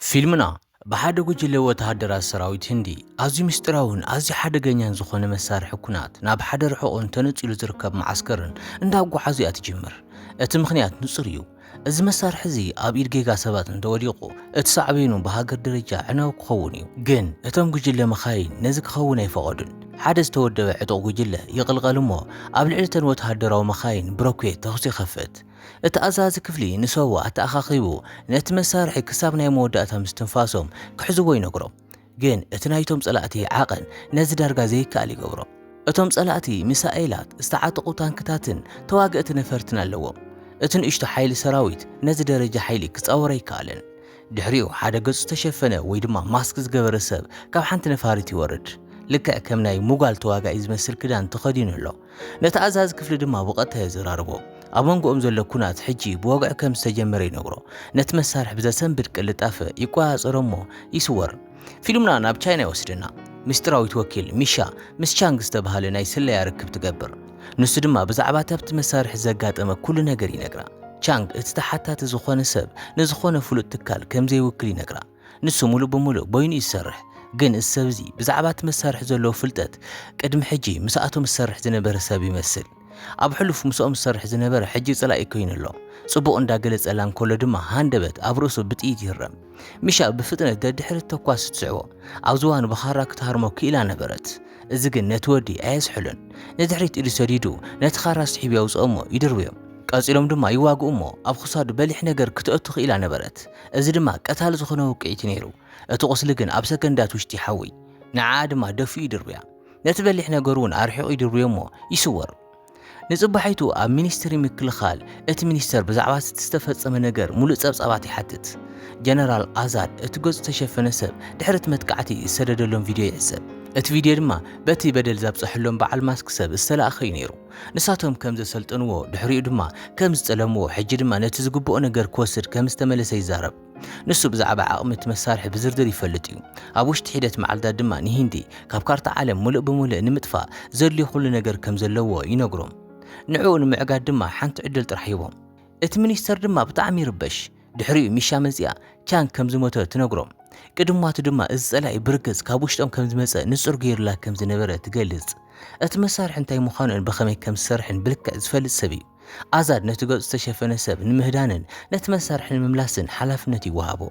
ፊልምና፣ ብሓደ ጉጅለ ወተሃደራት ሰራዊት ህንዲ፣ ኣዝዩ ምስጢራውን ኣዝዩ ሓደገኛን ዝዀነ መሳርሒ ኵናት ናብ ሓደ ርሑቕን ተነጺሉ ዝርከብ መዓስከርን እንዳጓዓዙ እያ ትጅምር። እቲ ምኽንያት ንጹር እዩ፣ እዚ መሳርሒ እዚ ኣብ ኢድ ጌጋ ሰባት እንተ ወዲቑ፣ እቲ ሳዕቤኑ ብሃገር ደረጃ ኣዕናዊ ክኸውን እዩ። ግን እቶም ጉጅለ መኻይን ነዚ ክኸውን ኣይፈቐዱን። ሓደ ዝተወደበ ዕጡቕ ጉጅለ ይቕልቐል እሞ ኣብ ልዕሊ እተን ወተሃደራዊ መኻይን ብሮኬት ተዅሲ ይኸፍት። እቲ ኣዛዚ ክፍሊ ንሰዋ ኣተኣኻኺቡ ነቲ መሳርሒ ክሳብ ናይ መወዳእታ ምስትንፋሶም ክሕዝዎ ይነግሮም። ግን እቲ ናይቶም ጸላእቲ ዓቐን ነዚ ዳርጋ ዘይከኣል ይገብሮ። እቶም ጸላእቲ ሚሳኤላት፣ ዝተዓጠቑ ታንክታትን ተዋገእቲ ነፈርትን ኣለዎም። እቲ ንእሽቶ ሓይሊ ሰራዊት ነዚ ደረጃ ሓይሊ ክጻወር ኣይከኣለን። ድሕሪኡ ሓደ ገጹ ዝተሸፈነ ወይ ድማ ማስክ ዝገበረ ሰብ ካብ ሓንቲ ነፋሪት ይወርድ። ልክዕ ከም ናይ ሙጋል ተዋጋኢ ዝመስል ክዳን ተኸዲኑ ኣሎ። ነቲ ኣዛዚ ክፍሊ ድማ ብቐጥታ የዘራርቦ። ኣብ መንጎኦም ዘሎ ኩናት ሕጂ ብወግዒ ከም ዝተጀመረ ይነግሮ። ነቲ መሳርሒ ብዘሰንብድ ቅልጣፈ ይቆጻጸሮ እሞ ይስወር። ፊልምና ናብ ቻይና ይወስደና። ምስጢራዊት ወኪል ሚሻ ምስ ቻንግ ዝተባህለ ናይ ስለያ ርክብ ትገብር። ንሱ ድማ ብዛዕባ እቲ ኣብቲ መሳርሒ ዘጋጠመ ኩሉ ነገር ይነግራ። ቻንግ እቲ ተሓታቲ ዝኾነ ሰብ ንዝኾነ ፍሉጥ ትካል ከም ዘይውክል ይነግራ። ንሱ ምሉእ ብምሉእ በይኑ እዩ ዝሰርሕ፣ ግን እዚ ሰብ እዚ ብዛዕባ እቲ መሳርሒ ዘለዎ ፍልጠት ቅድሚ ሕጂ ምስኣቶም ዝሰርሕ ዝነበረ ሰብ ይመስል። ኣብ ሕሉፍ ምስኦም ዝሰርሕ ዝነበረ ሕጂ ጽላኢ ኰይኑ ኣሎ። ጽቡቕ እንዳ ገለጸላ እንከሎ ድማ ሃንደበት ኣብ ርእሱ ብጥይት ይህረም። ሚሻ ብፍጥነት ደድሕሪ እቲ ተኳሲ ትስዕቦ። ኣብ ዝባኑ ብኻራ ክትሃርሞ ክኢላ ነበረት። እዚ ግን ነቲ ወዲ ኣየዝሕሎን። ንድሕሪት ኢዱ ሰዲዱ ነቲ ኻራ ስሒቡ የውጽኦ እሞ ይድርብዮ። ቀጺሎም ድማ ይዋግኡ እሞ ኣብ ኽሳዱ በሊሕ ነገር ክተእቱ ክኢላ ነበረት። እዚ ድማ ቀታሊ ዝኾነ ውቅዒት'ዩ ነይሩ። እቲ ቁስሊ ግን ኣብ ሰከንዳት ውሽጢ ይሓውይ። ንዓኣ ድማ ደፊኡ ይድርብያ። ነቲ በሊሕ ነገር'ውን ኣርሒቑ ይድርብዮ'ሞ ይስወር። ንጽባሒቱ ኣብ ሚኒስትሪ ምክልኻል እቲ ሚኒስተር ብዛዕባ'ቲ ዝተፈጸመ ነገር ምሉእ ጸብጻባት ይሓትት። ጀነራል ኣዛድ እቲ ገጹ ዝተሸፈነ ሰብ ድሕሪ'ቲ መጥቃዕቲ ዝሰደደሎም ቪድዮ ይዕዘብ። እቲ ቪድዮ ድማ በቲ በደል ዛብጸሐሎም በዓል ማስክ ሰብ ዝተላእከ'ዩ ነይሩ። ንሳቶም ከም ዘሰልጠንዎ፣ ድሕሪኡ ድማ ከም ዝጠለምዎ፣ ሕጂ ድማ ነቲ ዝግብኦ ነገር ክወስድ ከም ዝተመለሰ ይዛረብ። ንሱ ብዛዕባ ዓቕሚ እቲ መሳርሒ ብዝርዝር ይፈልጥ እዩ፣ ኣብ ውሽጢ ሒደት መዓልታት ድማ ንሂንዲ ካብ ካርታ ዓለም ምሉእ ብምሉእ ንምጥፋእ ዘድልዮ ዅሉ ነገር ከም ዘለዎ ይነግሮም። ንዕኡ ንምዕጋት ድማ ሓንቲ ዕድል ጥራሕ ሂቦም። እቲ ሚኒስተር ድማ ብጣዕሚ ይርበሽ። ድሕሪኡ ሚሻ መጺኣ ቻንግ ከም ዝሞተ ትነግሮም። ቅድማቱ ድማ እዚ ጸላኢ ብርግጽ ካብ ውሽጦም ከም ዝመጸ ንጹር ገይሩላ ከም ዝነበረ ትገልጽ። እቲ መሳርሒ እንታይ ምዃኑን ብኸመይ ከም ዝሰርሕን ብልክዕ ዝፈልጥ ሰብ እዩ። ኣዛድ ነቲ ገጹ ዝተሸፈነ ሰብ ንምህዳንን ነቲ መሳርሒ ንምምላስን ሓላፍነት ይወሃቦ።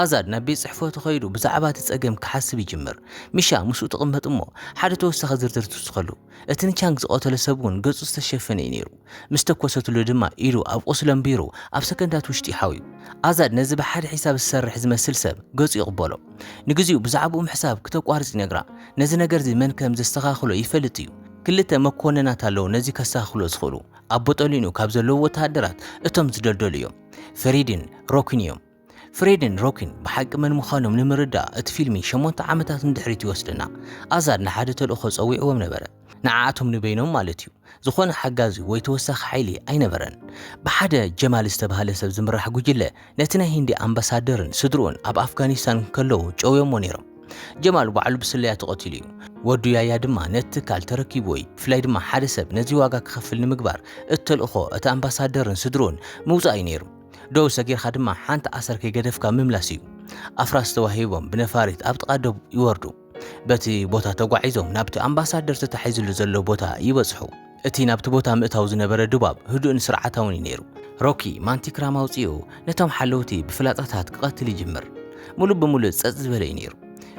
ኣዛድ ናብ ቤት ጽሕፈቱ ከይዱ ብዛዕባ እቲ ጸገም ክሓስብ ይጅምር። ሚሻ ምስኡ ትቕመጥ እሞ ሓደ ተወሳኺ ዝርዝር ትውስኸሉ። እቲ ንቻንግ ዝቐተሎ ሰብ እውን ገጹ ዝተሸፈነ እዩ ነይሩ። ምስ ተኮሰትሉ ድማ ኢዱ ኣብ ቁስሊ ኣንቢሩ ኣብ ሰከንዳት ውሽጢ ሓውዩ። ኣዛድ ነዚ ብሓደ ሒሳብ ዝሰርሕ ዝመስል ሰብ ገጹ ይቕበሎ። ንግዚኡ ብዛዕብኡ ምሕሳብ ክተቋርጽ ይነግራ። ነዚ ነገርዚ መን ከም ዘስተኻኽሎ ይፈልጥ እዩ። ክልተ መኮንናት ኣለዉ ነዚ ከስተኻኽልዎ ዝኽእሉ። ኣብ ቦጦሊንኡ ካብ ዘለዉ ወተሃደራት እቶም ዝደልደሉ እዮም። ፈሪድን ሮኪን እዮም። ፍሬድን ሮኪን ብሓቂ መን ምዃኖም ንምርዳእ እቲ ፊልሚ ሸሞንተ ዓመታት ንድሕሪት ይወስደና። ኣዛድ ንሓደ ተልእኾ ጸዊዕዎም ነበረ፣ ንዓኣቶም ንበይኖም ማለት እዩ። ዝኾነ ሓጋዚ ወይ ተወሳኺ ሓይሊ ኣይነበረን። ብሓደ ጀማል ዝተባህለ ሰብ ዝምራሕ ጉጅለ ነቲ ናይ ሂንዲ ኣምባሳደርን ስድርኡን ኣብ ኣፍጋኒስታን እንከለዉ ጨውዮሞ ነይሮም። ጀማል ባዕሉ ብስለያ ተቐቲሉ እዩ። ወዱ ያያ ድማ ነቲ ትካል ተረኪብዎ እዩ። ብፍላይ ድማ ሓደ ሰብ ነዚ ዋጋ ክኸፍል ንምግባር እቲ ተልእኾ እቲ ኣምባሳደርን ስድርኡን ምውጻእ እዩ ነይሩ። ደው ሰጊርካ ድማ ሓንቲ ኣሰር ከይገደፍካ ምምላስ እዩ። ኣፍራስ ተዋሂቦም ብነፋሪት ኣብ ጥቓ ዶብ ይወርዱ። በቲ ቦታ ተጓዒዞም ናብቲ ኣምባሳደር ተታሒዝሉ ዘሎ ቦታ ይበጽሑ። እቲ ናብቲ ቦታ ምእታው ዝነበረ ድባብ ህዱእን ስርዓታውን እዩ ነይሩ። ሮኪ ማንቲክራም ኣውጺኡ ነቶም ሓለውቲ ብፍላጻታት ክቐትል ይጅምር። ምሉእ ብምሉእ ጸጥ ዝበለ እዩ ነይሩ።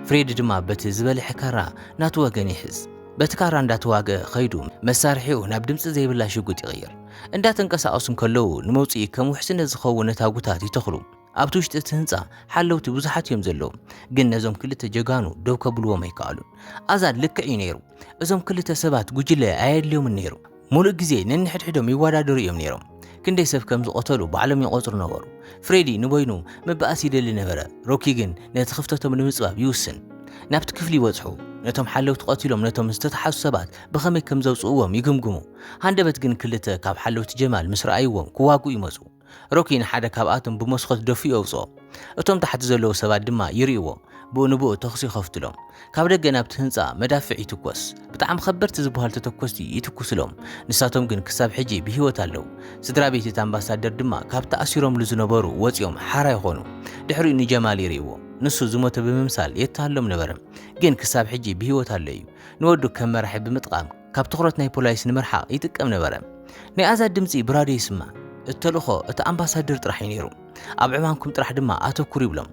ፍሬዲ ድማ በቲ ዝበልሐ ካራ ናቱ ወገን ይሕዝ። በቲ ካራ እንዳተዋግኣ ከይዱ መሳርሒኡ ናብ ድምጺ ዘይብላ ሽጉጥ ይቕይር። እንዳተንቀሳቐሱ እንከለዉ ንመውጽኢ ከም ውሕስነት ዝኸውን ነታጉታት ይተኽሉ። ኣብቲ ውሽጢ እቲ ህንጻ ሓለውቲ ብዙሓት እዮም ዘለዉ፣ ግን ነዞም ክልተ ጀጋኑ ደው ከብልዎም ኣይከኣሉን። ኣዛን ልክዕ እዩ ነይሩ፣ እዞም ክልተ ሰባት ጉጅለ ኣየድልዮምን ነይሩ። ምሉእ ግዜ ነንሕድሕዶም ይወዳደሩ እዮም ነይሮም፣ ክንደይ ሰብ ከም ዝቐተሉ ባዕሎም ይቖጽሩ ነበሩ። ፍሬዲ ንበይኑ ምባኣስ ይደሊ ነበረ፣ ሮኪ ግን ነቲ ክፍተቶም ንምጽባብ ይውስን። ናብቲ ክፍሊ ይበጽሑ፣ ነቶም ሓለውቲ ቀቲሎም ነቶም ዝተታሕዙ ሰባት ብኸመይ ከም ዘውጽእዎም ይግምግሙ። ሃንደበት ግን ክልተ ካብ ሓለውቲ ጀማል ምስ ረኣይዎም ክዋግኡ ይመጹ። ሮኪ ንሓደ ካብኣቶም ብመስኮት ደፊኡ የውጽኦ። እቶም ታሕቲ ዘለዉ ሰባት ድማ ይርእይዎ ብኡ ንብኡ ተኹሲ ይኸፍቱሎም። ካብ ደገ ናብቲ ህንጻ መዳፍዕ ይትኮስ። ብጣዕሚ ከበድቲ ዝበሃሉ ተተኮስቲ ይትኩሱሎም። ንሳቶም ግን ክሳብ ሕጂ ብህይወት ኣለዉ። ስድራቤት እቲ ኣምባሳደር ድማ ካብ ተኣሲሮምሉ ዝነበሩ ወጺኦም ሓራ ይኾኑ። ድሕሪኡ ንጀማል ይርእይዎ። ንሱ ዝሞተ ብምምሳል የተሃሎም ነበረ። ግን ክሳብ ሕጂ ብህይወት ኣሎ እዩ። ንወዱ ከም መራሒ ብምጥቓም ካብ ትኹረት ናይ ፖላይስ ንምርሓቕ ይጥቀም ነበረ። ናይ ኣዛድ ድምጺ ብራድዮ ይስማዕ። እቲ ተልእኾ እቲ ኣምባሳድር ጥራሕ እዩ ነይሩ። ኣብ ዕማምኩም ጥራሕ ድማ ኣተኩሩ ይብሎም።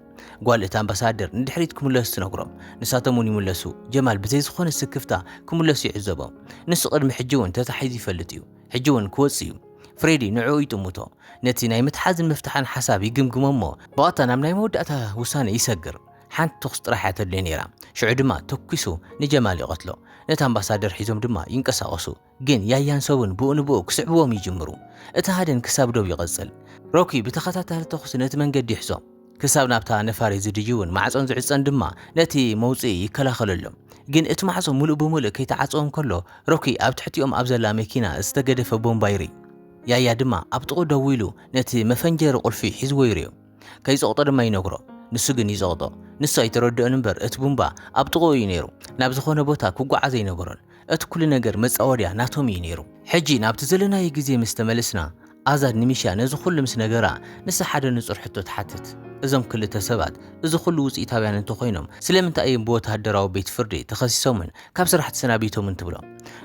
ጓል እቲ ኣምባሳድር ንድሕሪት ክምለሱ ትነግሮም። ንሳቶም እውን ይምለሱ። ጀማል ብዘይ ዝኾነ ስክፍታ ክምለሱ ይዕዘቦም። ንሱ ቅድሚ ሕጂ እውን ተታሒዙ ይፈልጥ እዩ። ሕጂ እውን ክወጽእ እዩ። ፍሬዲ ንዕኡ ይጥምቶ። ነቲ ናይ ምትሓዝን ምፍታሕን ሓሳብ ይግምግሞ እሞ ብቐጥታ ናብ ናይ መወዳእታ ውሳነ ይሰግር። ሓንቲ ተኹስ ጥራሕ እያ ተድልዮ ነይራ ሽዑ ድማ ተኲሱ ንጀማል ይቐትሎ ነቲ ኣምባሳደር ሒዞም ድማ ይንቀሳቐሱ ግን ያያን ሰቡን ብኡ ንብኡ ክስዕብዎም ይጅምሩ እቲ ሃድን ክሳብ ዶብ ይቐጽል ሮኪ ብተኸታታሊ ተኹሲ ነቲ መንገዲ ይሕዞ ክሳብ ናብታ ነፋሪት ዝድይቡን ማዕጾን ዝዕጸን ድማ ነቲ መውጽኢ ይከላኸለሎም ግን እቲ ማዕጾ ምሉእ ብምሉእ ከይተዓጽወ እንከሎ ሮኪ ኣብ ትሕቲኦም ኣብ ዘላ መኪና ዝተገደፈ ቦምባ ይርኢ ያያ ድማ ኣብ ጥቕኡ ደው ኢሉ ነቲ መፈንጀሪ ቁልፊ ሒዝዎ ይርእዮ ከይጸቕጦ ድማ ይነግሮ። ንሱ ግን ይጸቕጦ። ንሱ ኣይተረድኦን እምበር እቲ ቡምባ ኣብ ጥቕኡ እዩ ነይሩ። ናብ ዝኾነ ቦታ ክጓዓዝ ኣይነበሮን። እቲ ኩሉ ነገር መጻወድያ ናቶም እዩ ነይሩ። ሕጂ ናብቲ ዘለናዮ ግዜ ምስ ተመለስና፣ ኣዛድ ንሚሻ ነዚ ኩሉ ምስ ነገራ፣ ንሳ ሓደ ንጹር ሕቶ ትሓትት። እዞም ክልተ ሰባት እዚ ኩሉ ውጽኢታውያን እንተኾይኖም ስለምንታይ እዮም ብወተሃደራዊ ቤት ፍርዲ ተኸሲሶምን ካብ ስራሕ ተሰናቢቶምን ትብሎ።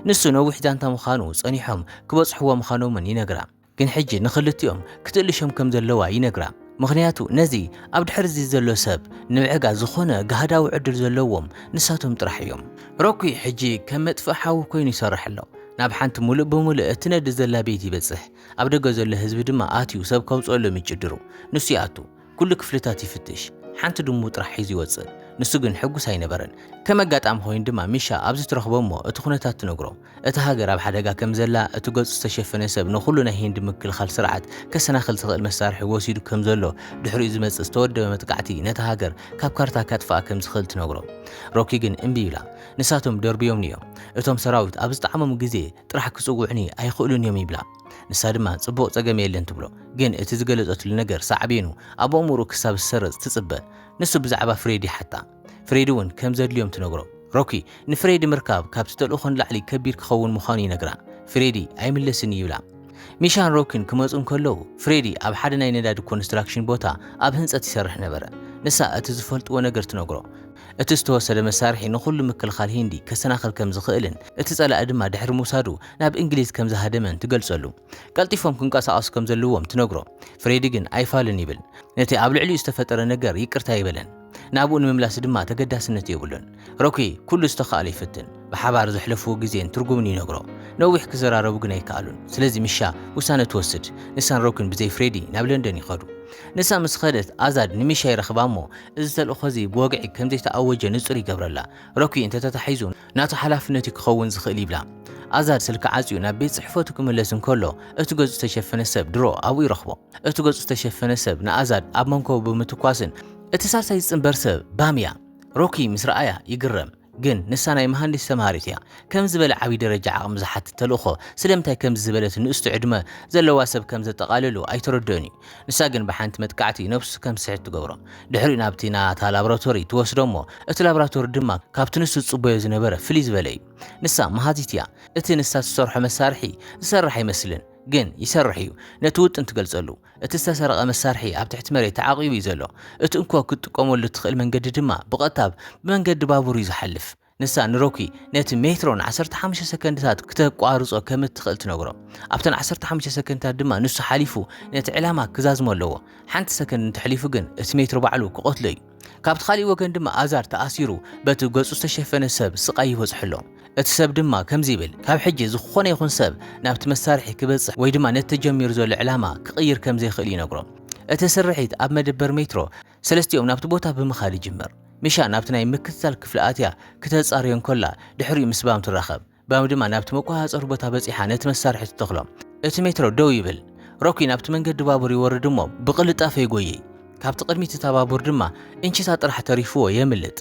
ንሱ ነዊሕ ዛንታ ምዃኑ ጸኒሖም ክበጽሕዎ ምዃኖምን ይነግራ። ግን ሕጂ ንኽልቲኦም ክትእልሾም ከም ዘለዋ ይነግራ። ምኽንያቱ ነዚ ኣብ ድሕሪ'ዚ ዘሎ ሰብ ንምዕጋ ዝኾነ ጋህዳዊ ዕድል ዘለዎም ንሳቶም ጥራሕ እዮም። ሮኪ ሕጂ ከም መጥፍኢ ሓዊ ኮይኑ ይሰርሕ ኣሎ። ናብ ሓንቲ ምሉእ ብምሉእ እትነድድ ዘላ ቤት ይበጽሕ። ኣብ ደገ ዘሎ ህዝቢ ድማ ኣትዩ ሰብ ከውጽኣሎም ይጭድሩ። ንሱ ይኣቱ። ኩሉ ክፍልታት ይፍትሽ፣ ሓንቲ ድሙ ጥራሕ ሒዙ ይወጽእ። ንሱ ግን ሕጉስ ኣይነበረን። ከም ኣጋጣሚ ኮይኑ ድማ ሚሻ ኣብዚ ትረኽቦ እሞ እቲ ኩነታት ትነግሮ። እታ ሃገር ኣብ ሓደጋ ከም ዘላ፣ እቲ ገጹ ዝተሸፈነ ሰብ ንኹሉ ናይ ሂንዲ ምክልኻል ስርዓት ከሰናኽል ዝኽእል መሳርሒ ወሲዱ ከም ዘሎ፣ ድሕሪኡ ዝመጽእ ዝተወደበ መጥቃዕቲ ነታ ሃገር ካብ ካርታ ከጥፍኣ ከም ዝኽእል ትነግሮ። ሮኪ ግን እምቢ ይብላ። ንሳቶም ደርብዮምኒ እዮም። እቶም ሰራዊት ኣብ ዝጠዓሞም ግዜ ጥራሕ ክጽውዑኒ ኣይኽእሉን እዮም ይብላ። ንሳ ድማ ጽቡቕ ጸገም የለን ትብሎ። ግን እቲ ዝገለጸትሉ ነገር ሳዕቤኑ ኣብ ኣእምሮኡ ክሳብ ዝሰረጽ ትጽበ። ንሱ ብዛዕባ ፍሬድ ይሓታ። ፍሬድ እውን ከም ዘድልዮም ትነግሮ። ሮኪ ንፍሬድ ምርካብ ካብቲ ተልእኾ ንላዕሊ ከቢድ ክኸውን ምዃኑ ይነግራ። ፍሬድ ኣይምለስን እዩ ይብላ። ሚሻን ሮኪን ክመጹ እንከለዉ ፍሬድ ኣብ ሓደ ናይ ነዳዲ ኮንስትራክሽን ቦታ ኣብ ህንጸት ይሰርሕ ነበረ። ንሳ እቲ ዝፈልጥዎ ነገር ትነግሮ። እቲ ዝተወሰደ መሳርሒ ንኹሉ ምክልኻል ሂንዲ ከሰናኽል ከም ዝኽእልን እቲ ጸላኢ ድማ ድሕሪ ምውሳዱ ናብ እንግሊዝ ከም ዝሃደመን ትገልጸሉ። ቀልጢፎም ክንቀሳቐሱ ከም ዘለዎም ትነግሮ። ፍሬዲ ግን ኣይፋሉን ይብል። ነቲ ኣብ ልዕሊኡ ዝተፈጠረ ነገር ይቅርታ ኣይበለን። ናብኡ ንምምላስ ድማ ተገዳስነት የብሉን። ሮኪ ኩሉ ዝተኻእሎ ይፍትን። ብሓባር ዘሕለፍዎ ግዜን ትርጉምን ይነግሮ። ነዊሕ ክዘራረቡ ግን ኣይከኣሉን። ስለዚ ሚሻ ውሳነ ትወስድ። ንሳን ሮኪን ብዘይ ፍሬዲ ናብ ለንደን ይኸዱ። ንሳ ምስ ኸደት ኣዛድ ንሚሻ ይረኽባ እሞ እዚ ተልእኾ'ዚ ብወግዒ ከም ዘይተኣወጀ ንጹር ይገብረላ። ሮኪ እንተ ተታሒዙ፣ ናቱ ሓላፍነት እዩ ክኸውን ዝኽእል ይብላ። ኣዛድ ስልኪ ዓጽዩ ናብ ቤት ጽሕፈቱ ክምለስ እንከሎ፣ እቲ ገጹ ዝተሸፈነ ሰብ ድሮ ኣብኡ ይረኽቦ። እቲ ገጹ ዝተሸፈነ ሰብ ንኣዛድ ኣብ መንኮቡ ብምትኳስን እቲ ሳልሳይ ዝጽንበር ሰብ ባም እያ። ሮኪ ምስ ረኣያ ይግረም። ግን ንሳ ናይ መሃንዲስ ተማሃሪት እያ። ከምዚ ዝበለ ዓቢ ደረጃ ዓቕሚ ዝሓትት ተልእኾ ስለምንታይ ከምዚ ዝበለት ንእስቶ ዕድመ ዘለዋ ሰብ ከም ዘጠቓልሉ ኣይተረድኦን እዩ። ንሳ ግን ብሓንቲ መጥቃዕቲ ነብሱ ከም ዝስሕት ትገብሮ። ድሕሪኡ ናብቲ ናታ ላብራቶሪ ትወስዶ እሞ እቲ ላብራቶሪ ድማ ካብቲ ንሱ ዝጽበዮ ዝነበረ ፍልይ ዝበለ እዩ። ንሳ መሃዚት እያ። እቲ ንሳ ትሰርሖ መሳርሒ ዝሰርሕ ኣይመስልን። ግን ይሰርሕ እዩ። ነቲ ውጥን ትገልጸሉ። እቲ ዝተሰረቐ መሳርሒ ኣብ ትሕቲ መሬት ተዓቂቡ እዩ ዘሎ። እቲ እንኮ ክትጥቀመሉ እትኽእል መንገዲ ድማ ብቐጥታ ብመንገዲ ባቡር እዩ ዝሓልፍ። ንሳ ንሮኪ ነቲ ሜትሮ ንዓሰርተ ሓሙሽተ ሰከንድታት ክተቋርጾ ከም እትኽእል ትነግሮ። ኣብተን ዓሰርተ ሓሙሽተ ሰከንድታት ድማ ንሱ ሓሊፉ ነቲ ዕላማ ክዛዝሞ ኣለዎ። ሓንቲ ሰከንድ እንተሕሊፉ ግን እቲ ሜትሮ ባዕሉ ክቐትሎ እዩ። ካብቲ ካልእ ወገን ድማ ኣዛር ተኣሲሩ በቲ ገጹ ዝተሸፈነ ሰብ ስቓይ ይበጽሖ ኣሎ። እቲ ሰብ ድማ ከምዚ ይብል፣ ካብ ሕጂ ዝኾነ ይኹን ሰብ ናብቲ መሳርሒ ክበጽሕ ወይ ድማ ነቲ ተጀሚሩ ዘሎ ዕላማ ክቕይር ከም ዘይክእል ይነግሮ። እቲ ስርሒት ኣብ መደበር ሜትሮ ሰለስቲኦም ናብቲ ቦታ ብምኻድ ይጅምር። ሚሻ ናብቲ ናይ ምክትታል ክፍሊ ኣትያ ክተጻርዮ እንከላ ድሕሪኡ ምስ ባም ትራኸብ። ባም ድማ ናብቲ መቆጻጸሪ ቦታ በጺሓ ነቲ መሳርሒ ትተኽሎ። እቲ ሜትሮ ደው ይብል። ሮኪ ናብቲ መንገዲ ባቡር ይወርድ እሞ ብቕልጣፈ ይጎይይ። ካብቲ ቅድሚት እታ ባቡር ድማ እንቺታ ጥራሕ ተሪፍዎ የምልጥ።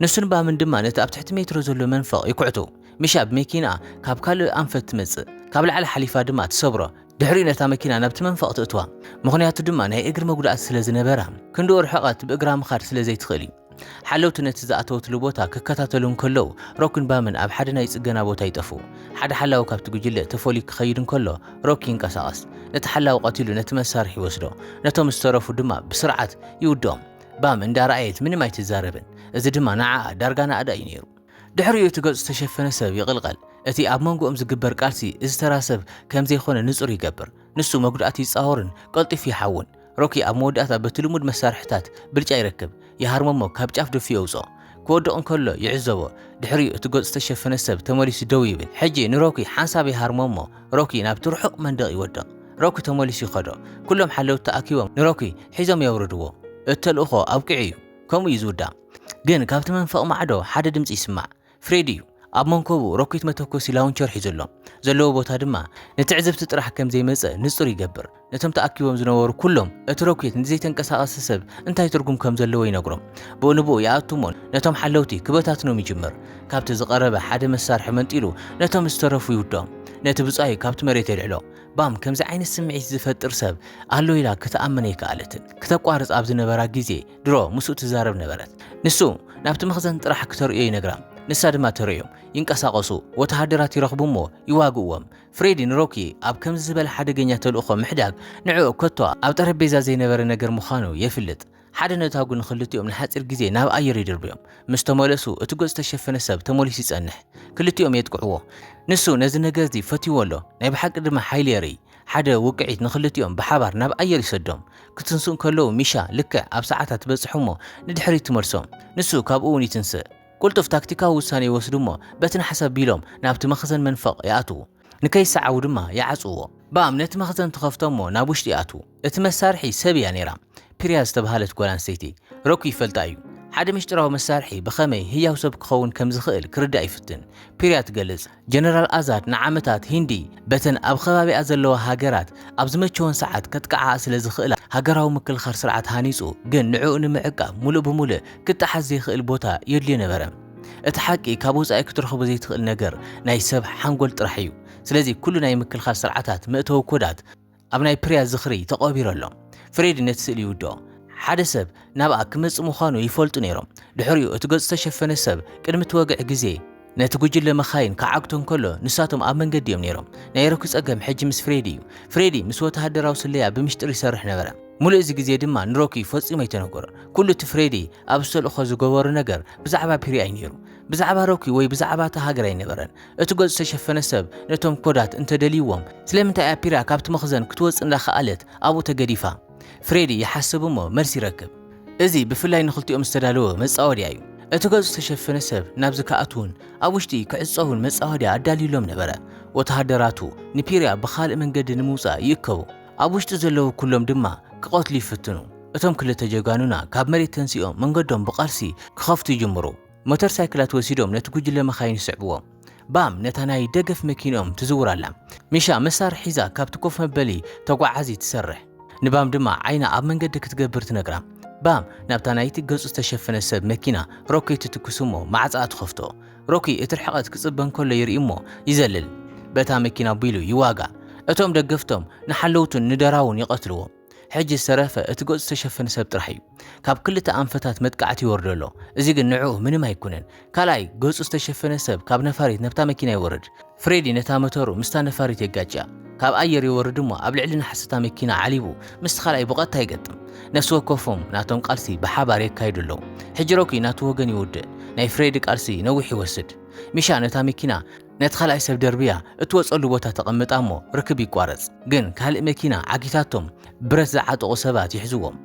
ንሱን ባምን ድማ ነቲ ኣብ ትሕቲ ሜትሮ ዘሎ መንፈቕ ይኩዕቱ። ሚሻ ብመኪንኣ ካብ ካልእ ኣንፈት ትመጽእ። ካብ ላዕሊ ሓሊፋ ድማ ትሰብሮ። ድሕሪኡ ነታ መኪና ናብቲ መንፈቕ ትእትዋ፣ ምኽንያቱ ድማ ናይ እግሪ መጉዳእቲ ስለ ዝነበራ፣ ክንድኡ ርሕቐት ብእግራ ምኻድ ስለ ዘይትኽእል እዩ። ሓለውቲ ነቲ ዝኣተወትሉ ቦታ ክከታተሉ እንከለዉ፣ ሮክን ባምን ኣብ ሓደ ናይ ጽገና ቦታ ይጠፍኡ። ሓደ ሓላዊ ካብቲ ጕጅለ ተፈልዩ ክኸይድ እንከሎ፣ ሮክ ይንቀሳቐስ። ነቲ ሓላዊ ቀቲሉ ነቲ መሳርሒ ይወስዶ፣ ነቶም ዝተረፉ ድማ ብስርዓት ይውድኦም። ባም እንዳ ረኣየት ምንም ኣይትዛረብን፣ እዚ ድማ ንዓኣ ዳርጋ ናእዳ እዩ ነይሩ። ድሕሪኡ እቲ ገጹ ዝተሸፈነ ሰብ ይቕልቐል። እቲ ኣብ መንጎኦም ዝግበር ቃልሲ እዚ ተራ ሰብ ከም ዘይኮነ ንጹር ይገብር። ንሱ መጉዳእቲ ይጻወርን ቀልጢፉ ይሓውን። ሮኪ ኣብ መወዳእታ በቲ ልሙድ መሳርሒታት ብልጫ ይረክብ። ይሃርሞ እሞ ካብ ጫፍ ደፊኡ የውጽኦ። ክወድቕ እንከሎ ይዕዘቦ። ድሕሪኡ እቲ ገጹ ዝተሸፈነ ሰብ ተመሊሱ ደው ይብል። ሕጂ ንሮኪ ሓንሳብ ይሃርሞ እሞ ሮኪ ናብቲ ርሑቕ መንደቕ ይወድቕ። ሮኪ ተመሊሱ ይኸዶ። ኩሎም ሓለውቲ ተኣኪቦም ንሮኪ ሒዞም የውርድዎ። እቲ ተልእኾ ኣብቂዑ እዩ። ከምኡ እዩ ዝውዳእ። ግን ካብቲ መንፈቕ ማዕዶ ሓደ ድምጺ ይስማዕ። ፍሬድ እዩ። ኣብ መንኮቡ ሮኬት መተኮሲ ላውንቸር ሒዙ ኣሎ። ዘለዎ ቦታ ድማ ንትዕዝብቲ ጥራሕ ከም ዘይመጸ ንጹር ይገብር። ነቶም ተኣኪቦም ዝነበሩ ኩሎም እቲ ሮኬት ንዘይተንቀሳቐሰ ሰብ እንታይ ትርጉም ከም ዘለዎ ይነግሮም። ብኡንብኡ ይኣቱ እሞ ነቶም ሓለውቲ ክበታትኖም ይጅምር። ካብቲ ዝቐረበ ሓደ መሳርሒ መንጢሉ ነቶም ዝተረፉ ይውድኦም። ነቲ ብጻዩ ካብቲ መሬት የልዕሎ። ባም ከምዚ ዓይነት ስምዒት ዝፈጥር ሰብ ኣሎ ኢላ ክትኣምን ኣይከኣለትን። ክተቋርጽ ኣብ ዝነበራ ግዜ ድሮ ምስኡ ትዛረብ ነበረት። ንሱ ናብቲ መኽዘን ጥራሕ ክተርእዮ ይነግራ፣ ንሳ ድማ ተርእዮም። ይንቀሳቐሱ፣ ወተሃደራት ይረኽቡ እሞ ይዋግእዎም። ፍሬዲ ንሮኪ ኣብ ከምዚ ዝበለ ሓደገኛ ተልእኾ ምሕዳግ ንዕኡ ከቶ ኣብ ጠረጴዛ ዘይነበረ ነገር ምዃኑ የፍልጥ። ሓደ ነታጕ ንኽልቲኦም ንሓጺር ግዜ ናብ ኣየር ይድርብዮም። ምስ ተመለሱ እቲ ገጹ ዝተሸፈነ ሰብ ተመሊሱ ይጸንሕ። ክልቲኦም የጥቅዕዎ። ንሱ ነዚ ነገርዚ ፈትይዎ ኣሎ፣ ናይ ብሓቂ ድማ ሓይሊ የርእይ። ሓደ ውቅዒት ንኽልቲኦም ብሓባር ናብ ኣየር ይሰዶም። ክትንስኡ እንከለዉ ሚሻ ልክዕ ኣብ ሰዓታ ትበጽሕ እሞ ንድሕሪት ትመልሶም። ንሱ ካብኡ'ውን ይትንስእ። ቅልጡፍ ታክቲካዊ ውሳነ ይወስዱ እሞ በቲ ናሕሲ ኣቢሎም ናብቲ መኽዘን መንፈቕ ይኣትዉ። ንከይሰዓቡ ድማ ይዓጽዉዎ። ባም ነቲ መኽዘን ትኸፍቶ እሞ ናብ ውሽጢ ይኣትዉ። እቲ መሳርሒ ሰብ እያ ነይራ። ፒርያ ዝተብሃለት ጓል ኣንስተይቲ፣ ሮኪ ይፈልጣ እዩ። ሓደ ምስጢራዊ መሳርሒ ብኸመይ ህያው ሰብ ክኸውን ከም ዝኽእል ክርዳእ ይፍትን። ፒርያ ትገልጽ፣ ጀነራል ኣዛድ ንዓመታት ሂንዲ በተን ኣብ ኸባቢኣ ዘለዋ ሃገራት ኣብ ዝመቸወን ሰዓት ከጥቅዓኣ ስለ ዝኽእላ፣ ሃገራዊ ምክልኻር ስርዓት ሃኒጹ፣ ግን ንዕኡ ንምዕቃብ ምሉእ ብምሉእ ክጠሓስ ዘይክእል ቦታ የድልዮ ነበረ። እቲ ሓቂ ካብ ወጻኢ ክትረኽቦ ዘይትኽእል ነገር ናይ ሰብ ሓንጎል ጥራሕ እዩ። ስለዚ ኩሉ ናይ ምክልኻል ስርዓታት መእተዊ ኮዳት ኣብ ናይ ፕሪያ ዝኽሪ ተቐቢሩ ኣሎ። ፍሬዲ ነቲ ስእሊ ይውድኦ። ሓደ ሰብ ናብኣ ክመጽእ ምዃኑ ይፈልጡ ነይሮም። ድሕሪኡ እቲ ገጹ ዝተሸፈነ ሰብ ቅድሚ እቲ ወግዒ ግዜ ነቲ ጉጅለ መኻይን ክዓግቶ እንከሎ ንሳቶም ኣብ መንገዲ እዮም ነይሮም። ናይ ሮኪ ጸገም ሕጂ ምስ ፍሬዲ እዩ። ፍሬዲ ምስ ወተሃደራዊ ስለያ ብምሽጥር ይሰርሕ ነበረ። ምሉእ እዚ ግዜ ድማ ንሮኪ ፈጺሙ ኣይተነገሮን። ኩሉ እቲ ፍሬዲ ኣብዚ ተልእኾ ዝገበሮ ነገር ብዛዕባ ፕሪያ እዩ ነይሩ። ብዛዕባ ሮኪ ወይ ብዛዕባ እታ ሃገር ኣይነበረን። እቲ ገጹ ዝተሸፈነ ሰብ ነቶም ኮዳት እንተ ደልይዎም፣ ስለምንታይ እያ ፒራ ካብቲ መኽዘን ክትወጽእ እንዳኸኣለት ኣብኡ ተገዲፋ? ፍሬዲ ይሓስብ እሞ መልሲ ይረክብ። እዚ ብፍላይ ንኽልቲኦም ዝተዳለወ መጻወድያ እዩ። እቲ ገጹ ዝተሸፈነ ሰብ ናብዚ ክኣትዉን ኣብ ውሽጢ ክዕጸዉን መጻወድያ ኣዳልዩሎም ነበረ። ወተሃደራቱ ንፒራ ብኻልእ መንገዲ ንምውጻእ ይእከቡ። ኣብ ውሽጢ ዘለዉ ኩሎም ድማ ክቐትሉ ይፍትኑ። እቶም ክልተ ጀጋኑና ካብ መሬት ተንሲኦም መንገዶም ብቓልሲ ክኸፍቱ ይጅምሩ። ሞተር ሳይክላት ወሲዶም ነቲ ጉጅለ መኻይን ይስዕብዎ። ባም ነታ ናይ ደገፍ መኪንኦም ትዝውር ኣላ። ሚሻ መሳርሒ ሒዛ ካብቲ ኮፍ መበሊ ተጓዓዚ ትሰርሕ። ንባም ድማ ዓይና ኣብ መንገዲ ክትገብር ትነግራ። ባም ናብታ ናይቲ ገጹ ዝተሸፈነ ሰብ መኪና ሮኪ ትትኩስ እሞ ማዕጻኣ ትኸፍቶ። ሮኪ እቲ ርሕቐት ክጽበ እንከሎ ይርኢ እሞ ይዘልል። በታ መኪና ኣቢሉ ይዋጋእ። እቶም ደገፍቶም ንሓለውቱን ንደራውን ይቐትልዎ። ሕጂ ዝተረፈ እቲ ገጹ ዝተሸፈነ ሰብ ጥራሕ እዩ ካብ ክልተ ኣንፈታት መጥቃዕቲ ይወርዶ ኣሎ እዚ ግን ንዕኡ ምንም ኣይኩነን ካልኣይ ገጹ ዝተሸፈነ ሰብ ካብ ነፋሪት ነብታ መኪና ይወርድ ፍሬዲ ነታ መተሩ ምስታ ነፋሪት የጋጭያ ካብ ኣየር ይወርድ እሞ ኣብ ልዕሊ ናሕሲ እታ መኪና ዓሊቡ ምስቲ ካልኣይ ብቀጥታ ይገጥም ነፍሲ ወከፎም ናቶም ቃልሲ ብሓባር የካይዱ ኣለዉ ሕጂ ሮኪ ናቱ ወገን ይውድእ ናይ ፍሬዲ ቃልሲ ነዊሕ ይወስድ ሚሻ ነታ መኪና ነቲ ካልኣይ ሰብ ደርብያ እትወጸሉ ቦታ ተቐምጣ እሞ ርክብ ይቋረጽ። ግን ካልእ መኪና ዓጊታቶም ብረት ዝዓጠቑ ሰባት ይሕዝዎም።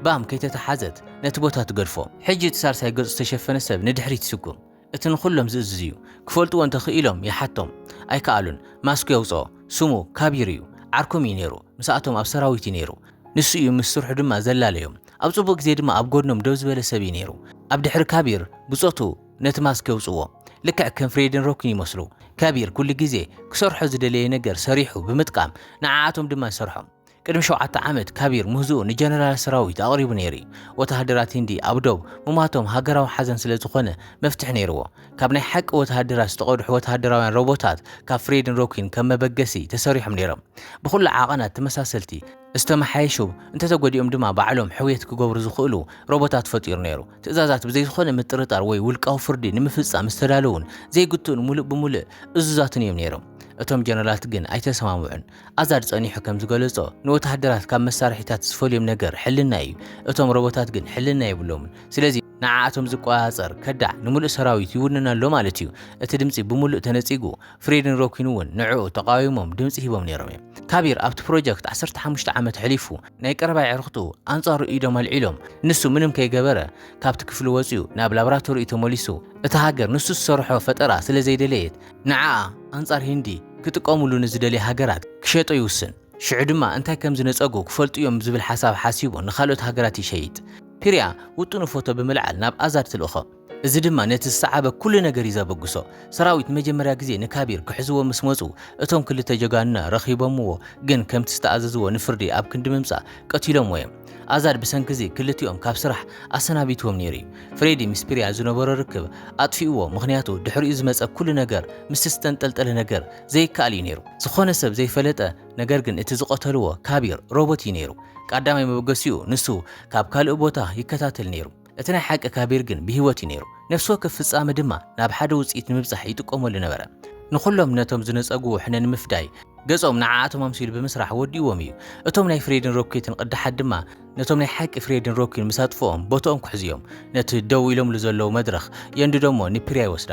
ባም ከይተተሓዘት ነቲ ቦታ ትገድፎ። ሕጂ እቲ ሳልሳይ ገጹ ዝተሸፈነ ሰብ ንድሕሪት ይስጉም። እቲ ንኹሎም ዝእዝዝ እዩ። ክፈልጥዎ እንተ ክኢሎም ይሓቶም። ኣይከኣሉን። ማስኩ የውጽኦ። ስሙ ካቢር እዩ። ዓርኮም እዩ ነይሩ። ምሳኣቶም ኣብ ሰራዊት እዩ ነይሩ። ንሱ እዩ ምስ ስርሑ ድማ ዘላለዮም። ኣብ ጽቡቕ ግዜ ድማ ኣብ ጎድኖም ደው ዝበለ ሰብ እዩ ነይሩ። ኣብ ድሕሪ ካቢር ብጾቱ ነቲ ማስክ የውጽዎ። ልክዕ ከም ፍሬድን ሮክን ይመስሉ። ከቢር ኩሉ ግዜ ክሰርሖ ዝደለየ ነገር ሰሪሑ ብምጥቃም ንዓኣቶም ድማ ይሰርሖም። ቅድሚ ሸውዓተ ዓመት ካቢር ምህዝኡ ንጀነራል ሰራዊት ኣቕሪቡ ነይሩ'ዩ። ወተሃደራት ሂንዲ ኣብ ዶብ ምሟቶም ሃገራዊ ሓዘን ስለ ዝኾነ መፍትሒ ነይርዎ። ካብ ናይ ሓቂ ወተሃደራት ዝተቐድሑ ወተሃደራውያን ሮቦታት ካብ ፍሬድን ሮኪን ከም መበገሲ ተሰሪሖም ነይሮም። ብኹሉ ዓቐናት ተመሳሰልቲ። ዝተመሓየሹ፣ እንተተጎዲኦም ድማ ባዕሎም ሕውየት ክገብሩ ዝኽእሉ ሮቦታት ፈጢሩ ነይሩ። ትእዛዛት ብዘይ ዝኾነ ምጥርጣር ወይ ውልቃዊ ፍርዲ ንምፍጻም ዝተዳለዉን ዘይግትኡን ምሉእ ብምሉእ እዙዛትን እዮም ነይሮም። እቶም ጀነራላት ግን ኣይተሰማምዑን። ኣዛድ ጸኒሑ ከም ዝገለጾ፣ ንወተሃደራት ካብ መሳርሒታት ዝፈልዮም ነገር ሕልና እዩ፣ እቶም ሮቦታት ግን ሕልና የብሎምን። ስለዚ። ንዓኣቶም ዝቆጻጸር ከዳዕ ንምሉእ ሰራዊት ይውንን ኣሎ ማለት እዩ። እቲ ድምጺ ብምሉእ ተነጺጉ፣ ፍሬድን ሮኪን እውን ንዕኡ ተቓዊሞም ድምጺ ሂቦም ነይሮም እዮም። ካቢር ኣብቲ ፕሮጀክት ዓሰርተ ሓሙሽተ ዓመት ኣሕሊፉ፣ ናይ ቀረባ ኣዕርኽቱ ኣንጻሩ ኢዶም ኣልዒሎም፣ ንሱ ምንም ከይገበረ ካብቲ ክፍሊ ወጺኡ ናብ ላብራቶሪኡ ተመሊሱ፣ እታ ሃገር ንሱ ዝሰርሖ ፈጠራ ስለ ዘይደለየት ንዓኣ ኣንጻር ሂንዲ ክጥቀሙሉ ንዝደልያ ሃገራት ክሸጦ ይውስን። ሽዑ ድማ እንታይ ከም ዝነጸጉ ክፈልጡ እዮም ዝብል ሓሳብ ሓሲቡ ንኻልኦት ሃገራት ይሸይጥ። ፒርያ ውጥኑ ፎቶ ብምልዓል ናብ ኣዛድ ትልእኾ። እዚ ድማ ነቲ ዝሰዓበ ኩሉ ነገር እዩ ዘበግሶ። ሰራዊት ንመጀመርያ ግዜ ንካቢር ክሕዝዎ ምስ መጹ እቶም ክልተ ጀጋኑና ረኺቦምዎ ግን ከምቲ ዝተኣዘዝዎ ንፍርዲ ኣብ ክንዲ ምምጻእ ቀቲሎምዎ እዮም። ኣዛድ ብሰንኪ እዚ ክልቲኦም ካብ ስራሕ ኣሰናቢትዎም ነይሩ እዩ። ፍሬዲ ምስ ፒርያ ዝነበሮ ርክብ ኣጥፊእዎ ምኽንያቱ ድሕሪኡ ዝመጸ ኩሉ ነገር ምስቲ ዝተንጠልጠለ ነገር ዘይከኣል እዩ ነይሩ። ዝኾነ ሰብ ዘይፈለጠ ነገር ግን እቲ ዝቐተልዎ ካቢር ሮቦት እዩ ነይሩ። ቃዳማይ መበገሲኡ ንሱ ካብ ካልእ ቦታ ይከታተል ነይሩ። እቲ ናይ ሓቂ ካቢር ግን ብህይወት እዩ ነይሩ። ነፍሲ ወከፍ ፍጻመ ድማ ናብ ሓደ ውጽኢት ንምብጻሕ ይጥቀመሉ ነበረ። ንኹሎም ነቶም ዝነጸግዎ ሕነ ንምፍዳይ ገጾም ንዓኣቶም ኣምሲሉ ብምስራሕ ወዲእዎም እዩ። እቶም ናይ ፍሬድን ሮኬትን ቅዳሓት ድማ ነቶም ናይ ሓቂ ፍሬድን ሮኪን ምስ ኣጥፍኦም ቦትኦም ክሕዙ እዮም። ነቲ ደው ኢሎምሉ ዘለዉ መድረኽ የንድዶ እሞ ንፕሪያ ይወስዳ።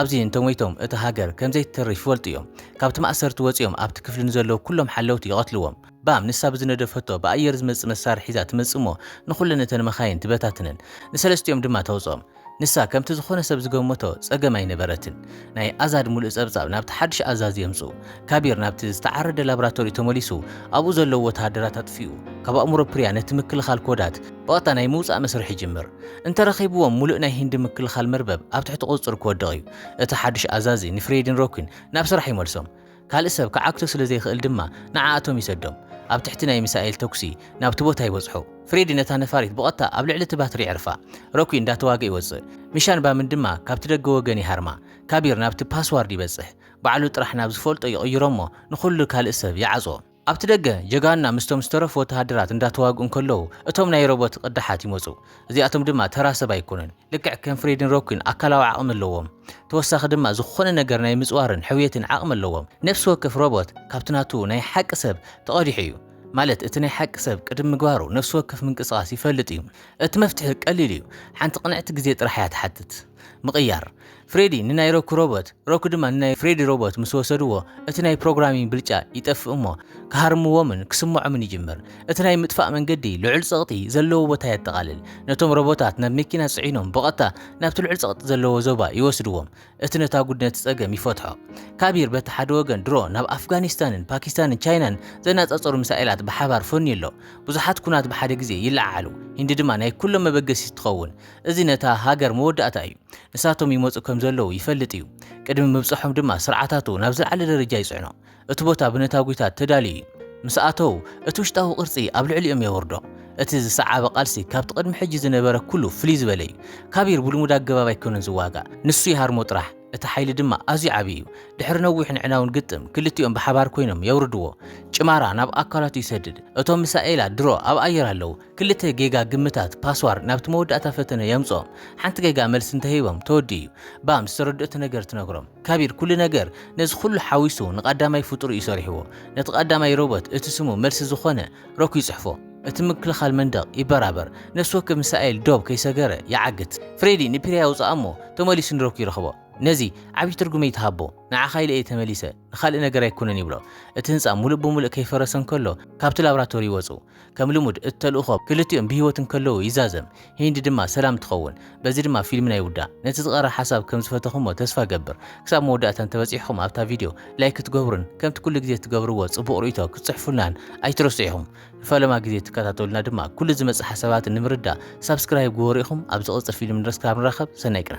ኣብዚ እንተሞይቶም እታ ሃገር ከም ዘይትተርፍ ይፈልጡ እዮም። ካብቲ ማእሰርቲ ወጺኦም ኣብቲ ክፍሊ ንዘለዉ ኩሎም ሓለውቲ ይቐትልዎም። ባም ንሳ ብዝነደፈቶ ብኣየር ዝመጽእ መሳርሒ ሒዛ ትመጽእ እሞ ንኹለን እተን መኻይን ትበታትነን። ንሰለስቲኦም ድማ ተውጽኦም። ንሳ ከምቲ ዝኾነ ሰብ ዝገመቶ ጸገም ኣይነበረትን። ናይ ኣዛድ ምሉእ ጸብጻብ ናብቲ ሓድሽ ኣዛዚ የምጽኡ። ካቢር ናብቲ ዝተዓረደ ላብራቶሪኡ ተመሊሱ ኣብኡ ዘለዉ ወተሃደራት ኣጥፊኡ ካብ ኣእምሮ ፕሪያ ነቲ ምክልኻል ኮዳት ብቐጥታ ናይ ምውጻእ መስርሕ ይጅምር። እንተረኺብዎም ምሉእ ናይ ሂንዲ ምክልኻል መርበብ ኣብ ትሕቲ ቁጽጽሩ ክወድቕ እዩ። እቲ ሓድሽ ኣዛዚ ንፍሬድን ሮኪን ናብ ስራሕ ይመልሶም። ካልእ ሰብ ክዓግቶ ስለ ዘይክእል ድማ ንዓኣቶም ይሰዶም። ኣብ ትሕቲ ናይ ሚሳኤል ተኩሲ ናብቲ ቦታ ይበጽሑ። ፍሬዲ ነታ ነፋሪት ብቐጥታ ኣብ ልዕሊ እቲ ባትሪ የዕርፋ። ሮኪ እንዳተዋግእ ይወጽእ። ሚሻን ባምን ድማ ካብቲ ደገ ወገን ይሃርማ። ካቢር ናብቲ ፓስዋርድ ይበጽሕ። ባዕሉ ጥራሕ ናብ ዝፈልጦ ይቕይሮ'ሞ ንኹሉ ካልእ ሰብ ይዓጽዎ። ኣብቲ ደገ ጀጋኑና ምስቶም ዝተረፉ ወተሃደራት እንዳተዋግኡ እንከለዉ እቶም ናይ ሮቦት ቕዳሓት ይመጹ። እዚኣቶም ድማ ተራ ሰብ ኣይኮኑን። ልክዕ ከም ፍሬድን ሮኪን ኣካላዊ ዓቕሚ ኣለዎም። ተወሳኺ ድማ ዝኾነ ነገር ናይ ምጽዋርን ሕውየትን ዓቕሚ ኣለዎም። ነፍሲ ወከፍ ሮቦት ካብቲ ናቱ ናይ ሓቂ ሰብ ተቐዲሑ እዩ። ማለት እቲ ናይ ሓቂ ሰብ ቅድሚ ምግባሩ ነፍሲ ወከፍ ምንቅስቓስ ይፈልጥ እዩ። እቲ መፍትሒ ቀሊል እዩ። ሓንቲ ቅንዕቲ ግዜ ጥራሕ እያ ትሓትት። ምቕያር። ፍሬዲ ንናይ ሮኪ ሮቦት፣ ሮኪ ድማ ንናይ ፍሬዲ ሮቦት ምስ ወሰድዎ፣ እቲ ናይ ፕሮግራሚንግ ብልጫ ይጠፍእ እሞ ክሃርምዎምን ክስምዖምን ይጅምር። እቲ ናይ ምጥፋእ መንገዲ ልዑል ጸቕጢ ዘለዎ ቦታ የጠቓልል። ነቶም ሮቦታት ናብ መኪና ጽዒኖም ብቐጥታ ናብቲ ልዑል ጸቕጢ ዘለዎ ዞባ ይወስድዎም። እቲ ነታጕድ ነቲ ጸገም ይፈትሖ። ካቢር በቲ ሓደ ወገን ድሮ ናብ ኣፍጋኒስታንን ፓኪስታንን ቻይናን ዘነጻጸሩ ሚሳኤላት ብሓባር ፈንዩ ኣሎ። ብዙሓት ኵናት ብሓደ ግዜ ይለዓዓሉ፣ ሂንዲ ድማ ናይ ኵሎም መበገሲት ትኸውን። እዚ ነታ ሃገር መወዳእታ እዩ። ንሳቶም ይመጹ ከም ዘለዉ ይፈልጥ እዩ፣ ቅድሚ ምብጽሖም ድማ ስርዓታቱ ናብ ዝለዓለ ደረጃ ይጽዕኖ። እቲ ቦታ ብነታጒታት ተዳልዩ እዩ። ምስ ኣተዉ፣ እቲ ውሽጣዊ ቅርጺ ኣብ ልዕሊኦም የውርዶ። እቲ ዝሰዓበ ቃልሲ ካብቲ ቅድሚ ሕጂ ዝነበረ ኵሉ ፍልይ ዝበለ እዩ። ካቢር ብልሙድ ኣገባብ ኣይኰነን ዝዋጋእ፣ ንሱ ይሃርሞ ጥራሕ። እቲ ሓይሊ ድማ ኣዝዩ ዓቢ እዩ። ድሕሪ ነዊሕን ኣዕናውን ግጥም፣ ክልቲኦም ብሓባር ኰይኖም የውርድዎ። ጭማራ ናብ ኣካላቱ ይሰድድ። እቶም ሚሳኤላት ድሮ ኣብ ኣየር ኣለዉ። ክልተ ጌጋ ግምታት፣ ፓስዋርድ፣ ናብቲ መወዳእታ ፈተነ የምጽኦም። ሓንቲ ጌጋ መልሲ እንተሂቦም ተወዲኡ'ዩ። ባም ዝተረድኦቶ ነገር ትነግሮም። ካቢር ኩሉ ነገር ነዚ ኩሉ ሓዊሱ ንቃዳማይ ፍጡር'ዩ ሰሪሕዎ። ነቲ ቃዳማይ ሮቦት እቲ ስሙ መልሲ ዝኾነ ሮክ ይጽሕፎ። እቲ ምክልኻል መንደቕ ይበራበር። ነፍሲ ወከፍ ምሳኤል ዶብ ከይሰገረ ይዓግት። ፍሬዲ ንፒርያ የውጽኣ'ሞ ተመሊሱ ንሮክ ይረኽቦ። ነዚ ዓቢ ትርጉም'ዩ ትሃቦ። ንዓኻ ኢለ'የ ተመሊሰ፣ ንኻልእ ነገር ኣይኮነን ይብሎ። እቲ ህንጻ ምሉእ ብምሉእ ከይፈረሰ እንከሎ ካብቲ ላብራቶሪ ይወጹ። ከም ልሙድ እቲ ተልእኾ ክልቲኦም ብህይወት እንከለዉ ይዛዘም፣ ሂንዲ ድማ ሰላም ትኸውን። በዚ ድማ ፊልምና ይውዳእ። ነቲ ዝቐረ ሓሳብ ከም ዝፈተኹሞ ተስፋ እገብር። ክሳብ መወዳእታ እንተበጺሕኩም ኣብታ ቪድዮ ላይክ ክትገብሩን ከምቲ ኩሉ ግዜ ትገብርዎ ጽቡቕ ርእይቶ ክትጽሕፉልናን ኣይትረስዑ ኢኹም። ንፈለማ ግዜ እትከታተሉና ድማ ኩሉ ዝመጽእ ሓሳባት ንምርዳእ ሳብስክራይብ ግበሩ ኢኹም። ኣብ ዝቕጽል ፊልም ድረስ ክሳብ ንራኸብ ሰናይ ቅነ።